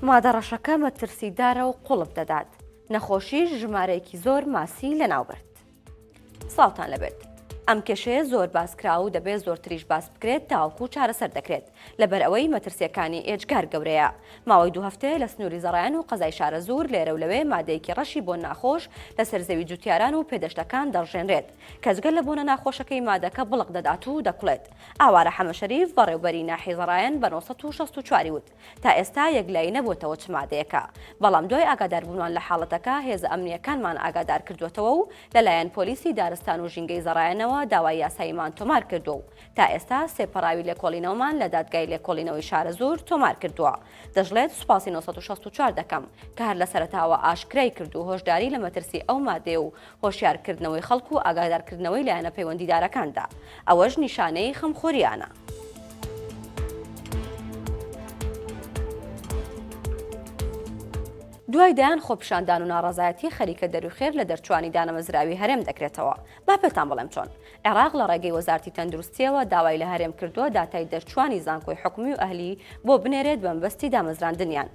مادە ڕەشەکە مەترسیدارە و قوڵپ دەدات، نەخۆشیش ژمارەیەکی زۆر ماسی لەناوبرد. سڵاوتان لەبێت. ئەم کێشەیە زۆر باسکراوە و دەبێت زۆرتریش باس بکرێت تاوەکو چارەسەر دەکرێت، لەبەرئەوەی مەترسییەکانی ئێجگار گەورەیە. ماوەی دوو هەفتەیە لە سنووری زەڕەیان و قەزای شارەزوور لێرەولەوێ مادەیەکی ڕەشی بۆن ناخۆش لەسەر زەوی جووتیاران و پێدەشتەکان دەڕژێنرێت، کەس گەر لە بۆنە ناخۆشەکەی مادەکە بڵق دەدات و دەکوڵێت. ئاوارە حەمە شەریف، بەڕێوبەری ناحی زەڕایەن بە نۆ سەد و شەست و چوار ی وت، تا ئێستا یەکلایی نەبووەتەوە چ مادەیەکە، بەڵام دوای ئاگاداربوونمان لە حاڵەتەکە هێزە ئەمنییەکانمان ئاگادارکردووەتەوە و لەلایەن پۆلیسی دارستان و ژینگەی زەڕایەنەوە داوای یاساییمان تۆمارکردووە و تا ئێستا سێ پەڕاوی لێکۆڵینەوەمان لە دادگای لێکۆڵینەوەی شارەزوور تۆمارکردووە. دەشڵێت، سوپاسی نۆ سەد و شەست و چوار دەکەم، کە هەر لە سەرەتاوە ئاشکرایکرد و هۆشداری لە مەترسی ئەو مادەیە و هۆشیارکردنەوەی خەڵک و ئاگادارکردنەوەی لایەنە پەیوەندیدارەکاندا، ئەوەش نیشانەی خەمخۆرییانە. دوای دەیان خۆپیشاندان و ناڕەزایەتی خەریکە دەروخێر لە دەرچووانی دانەمەزراوی هەرێم دەکرێتەوە، با پێتان بڵێم چۆن. عێراق لە ڕێگەی وەزارتی تەندروستییەوە داوای لە هەرێم کردووە داتای دەرچووانی زانکۆی حکومی و ئەهلی بۆ بنێرێت بەمەبەستی دامەزراندنیان،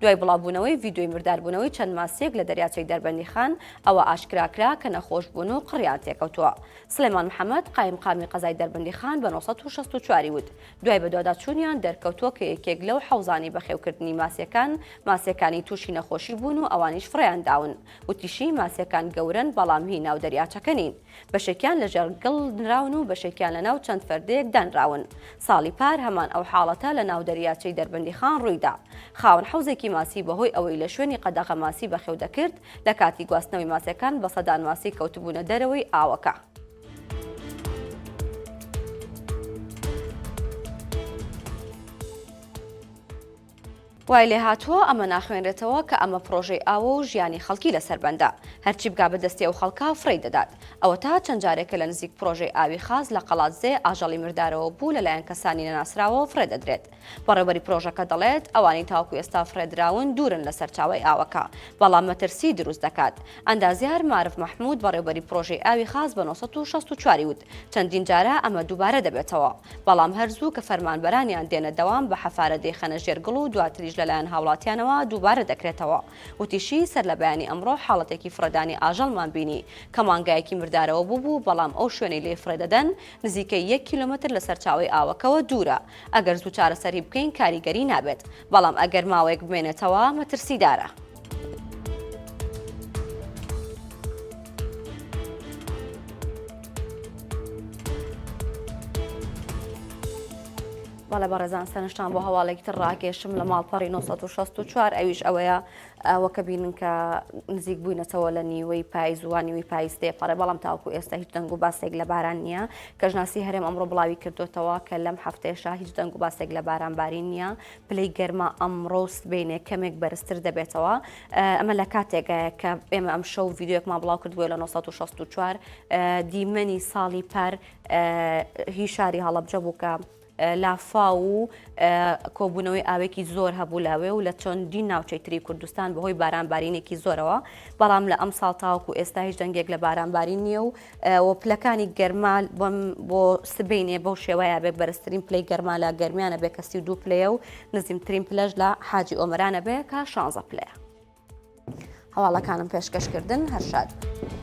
دوای بڵاوبوونەوەی ڤیدیۆی مرداربوونەوەی چەند ماسییەک لە دەریاچەی دەربەندیخان، ئەوە ئاشکرا کرا کە نەخۆش بوون و قڕیان تێکەوتووە. سڵێمان محەمەد، قایمقامی قەزای دەربەندیخان بە نۆ سەد و شەست و چوار ی وت، دوای بەدواداچوونیان دەرکەوتووە کە یەکێک لەو حەوزانەی بەخێوکردنی ماسییەکان، ماسییەکانی تووشی نەخۆشی بوون و ئەوانیش فڕێیانداون. وتیشی، ماسییەکان گەورەن، بەڵام هی ناو دەریاچەکە نین. بەشێکیان لەژێڕ گڵ نراون و بەشێکیان لەناو چەند فەردەیەک دانراون. ساڵی پار هەمان ئەو حاڵەتە لەناو دەریاچەی دەربەندیخان ڕوویدا. خاوەن حەوزێکی ماسی بەهۆی ئەوەی لە شوێنی قەدەغە ماسی بەخێو دەکرد، لە کاتی گواستنەوەی ماسیەکان بە سەدان ماسی کەوتبوونە دەرەوەی ئاوەکە. وای لێهاتووە ئەمە ناخوێنرێتەوە کە ئەمە پڕۆژەی ئاوە و ژیانی خەڵکی لەسەر بەندە، هەرچی بگا بە دەستی ئەو خەڵکە فڕێی دەدات. ئەوەتا چەند جارێکە لە نزیک پڕۆژەی ئاوی خاس لە قەڵادزێ ئاژەڵی مردارەوە بوو لەلایەن کەسانی نەناسراوەوە فڕێ دەدرێت. بەڕێوبەری پڕۆژەکە دەڵێت ئەوانەی تاوەکو ئێستا فڕێ دراون دوورن لە سەرچاوەی ئاوەکە، بەڵام مەترسی دروست دەکات. ئەندازیار مارف مەحمود بەڕێوبەری پڕۆژەی ئاوی خاس بە نۆ سەد و شەست و چوار ی وت چەندین جارە ئەمە دووبارە دەبێتەوە. بەڵام هەر زوو کە فەرمانبەرانیان دێنە دەوام بە حەفارە دەیخەنە ژێر گڵ و دواتریش لەلایەن هاوڵاتیانەوە دووبارە دەکرێتەوە. وتیشی، سەر لە بەیانی ئەمڕۆ حاڵەتێکی فڕێدانی ئاژەڵمان بینی کە مانگایەکی مردارەوە بووبوو، بەڵام ئەو شوێنەی لێی فڕێ دەدەن نزیکەی یەک کیلۆمەتر لە سەرچاوەی ئاوەکەوە دوورە، ئەگەر زوو چارەسەری بکەین کاریگەری نابێت، بەڵام ئەگەر ماوەیەک بمێنێتەوە مەترسیدارە. بەڵێ بەڕێزان سەرنجتان بۆ هەواڵێکی تر ڕاکێشم لە ماڵپەڕی 1964 ئەویش ئەوەیە ئەوە کە بینن کە نزیک بووینەتەوە لە نیوەی پایزوانیوی پایستێ پەڕێ بەڵام تاوکو ئێستا هیچ دەنگ و باسێک لە باران نییە کەژناسی هەرێم ئەمڕۆ بڵاوی کردوتەوە کە لەم هەفتێشا هیچ دەنگ و باسێک لە باران بارین نییە پلەی گەرما ئەمڕۆ و سبەینێ کەمێک بەرزتر دەبێتەوە ئەمە لە کاتێکایە کە ئێمە ئەم شەو ڤیددیوەکمان بڵاو کردووە لە 1964 دیمەنی ساڵی پار هی شاری هەڵەبجە بوو کە لافا و کۆبوونەوەی ئاوێکی زۆر هەبوو لاوێ و لە چەندین ناوچەی تری کوردستان بەهۆی بارانبارینێکی زۆرەوە بەڵام لە ئەم ساڵ تاوکو ئێستا هیچ دەنگێک لە بارانبارین نییە و و پلەکانی گەرما بۆ سبەینێ بەو شێوەیە بێ بەرزترین پلەی گەرما لە گەرمیانە بێ کە سی و دوو پلەیە و نزیمترین پلەش لە حاجی ئۆمەرانە بێ کە شانزە پلەیە هەواڵەکانم پێشکەشکردن هەر شاد بن.